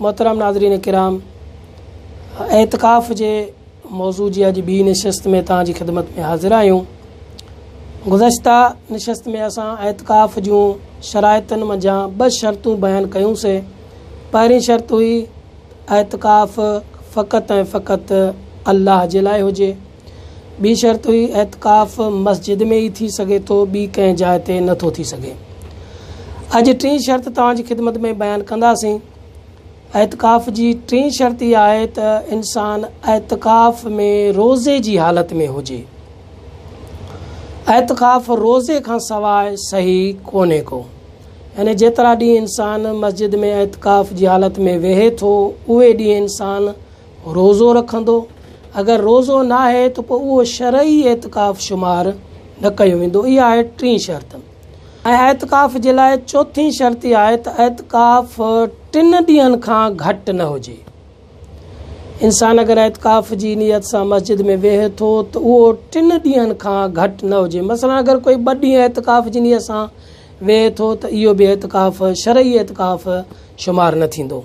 محترم ناظرين ڪرام اعتڪاف جي موضوع جي اڄ ٻي نشست ۾ توهان جي خدمت ۾ حاضر آهيون گذشته نشست ۾ اسان اعتڪاف جون شرائطن منجهان ٻه شرطون بيان ڪيون سي پهرين شرط هئي اعتڪاف فقط ۽ فقط الله جي لاء هجي ٻي شرط هئي اعتڪاف مسجد ۾ ئي ٿي سگهي ٿو ٻي ڪنهن جاء تي نه ٿو ٿي سگهي. اڄ ٽين شرط توهان جي خدمت ۾ بيان ڪنداسين. اعتڪاف جي ٽين شرط اها آهي ته انسان اعتڪاف ۾ روزي جي حالت ۾ هجي. اعتڪاف روزي کان سواء صحيح ڪونهي ڪو. يعني جيترا ڏينهن انسان مسجد ۾ اعتڪاف جي حالت ۾ ويهي ٿو اهي ڏينهن انسان روزو رکندو، اگر روزو ناهي ته پوء اهو شرعي اعتڪاف شمار نه ڪيو ويندو، اها آهي ٽين شرط ۽ اعتڪاف جي لاء چوٿين شرط اها آهي ته اعتڪاف ٽن ڏينهن کان گهٽ نه هجي، انسان اگر اعتڪاف جي نيت سان مسجد ۾ ويهي ٿو ته اهو ٽن ڏينهن کان گهٽ نه هجي، مثلا اگر ڪوئي ٻه ڏينهن اعتڪاف جي نيت سان ويهي ٿو ته اهو به اعتڪاف شرعي اعتڪاف شمار نه ٿيندو.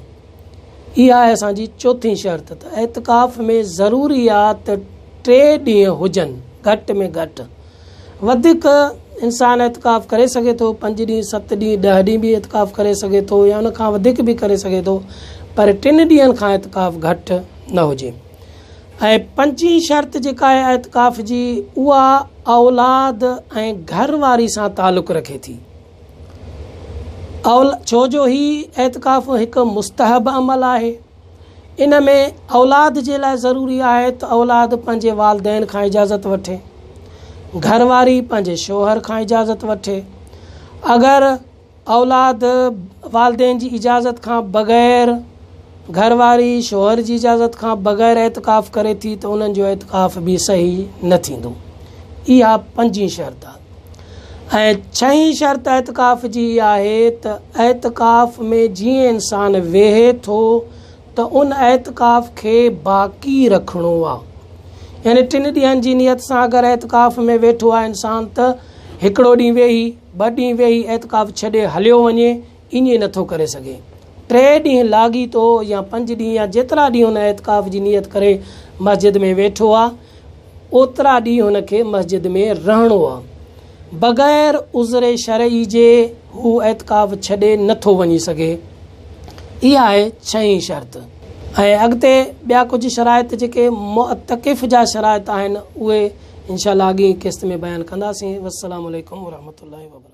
اها آهي اسان جي چوٿين شرط ته اعتڪاف ۾ ضروريات ٽي ڏينهن هجن گهٽ ۾ گهٽ. وڌيڪ انسان اعتڪاف ڪري سگهي ٿو، پنج ڏينهن، ست ڏينهن، ڏهه ڏينهن به اعتڪاف ڪري سگهي ٿو يا ان کان وڌيڪ به ڪري سگهي ٿو پر ٽن ڏينهن کان اعتڪاف گهٽ نه هجي. ۽ پنجين شرط جيڪا آهي اعتڪاف جي اها اولاد ۽ گهر واري سان تعلق رکي ٿي. اول ڇو جو هي اعتڪاف هڪ مستحب عمل آهي ان ۾ اولاد جي لاء ضروري آهي ته اولاد پنهنجي والدين کان اجازت وٺي گهر واري پنهنجي شوهر کان اجازت وٺي اگر اولاد والدين جي اجازت کان بغير گهر واري شوهر جي اجازت کان بغير اعتڪاف ڪري ٿي ته انهن جو اعتڪاف به صحيح نه ٿيندو اها پنجين شرط آهي ۽ ڇهين شرط اعتڪاف جي هيء آهي ته اعتڪاف ۾ جيئن انسان ويهي ٿو ته ان اعتڪاف کي باقي رکڻو آهي يعني ٽن ڏينهن جي نيت سان اگر اعتڪاف ۾ ويٺو آهي انسان ته هڪڙو ڏينهن ويهي ٻه ڏينهن ويهي اعتڪاف ڇڏي هليو وڃي ائين نه ٿو ڪري سگهي. ٽي ڏينهن لاڳيتو يا پنج ڏينهن يا جيترا ڏينهن هن اعتڪاف جي نيت ڪري مسجد ۾ ويٺو آ، اوترا ڏينهن هن کي مسجد ۾ رهڻو آ. بغير عذر شرعي جي هو اعتڪاف ڇڏي نه ٿو وڃي سگهي. اها آهي ڇهين شرط. ۽ اڳتي ٻيا ڪجهه شرائط جيڪي معتڪف جا شرائط آهن اهي انشاء الله اڳين قسط ۾ بيان ڪنداسين. والسلام عليڪم ورحمة الله وبرڪاته.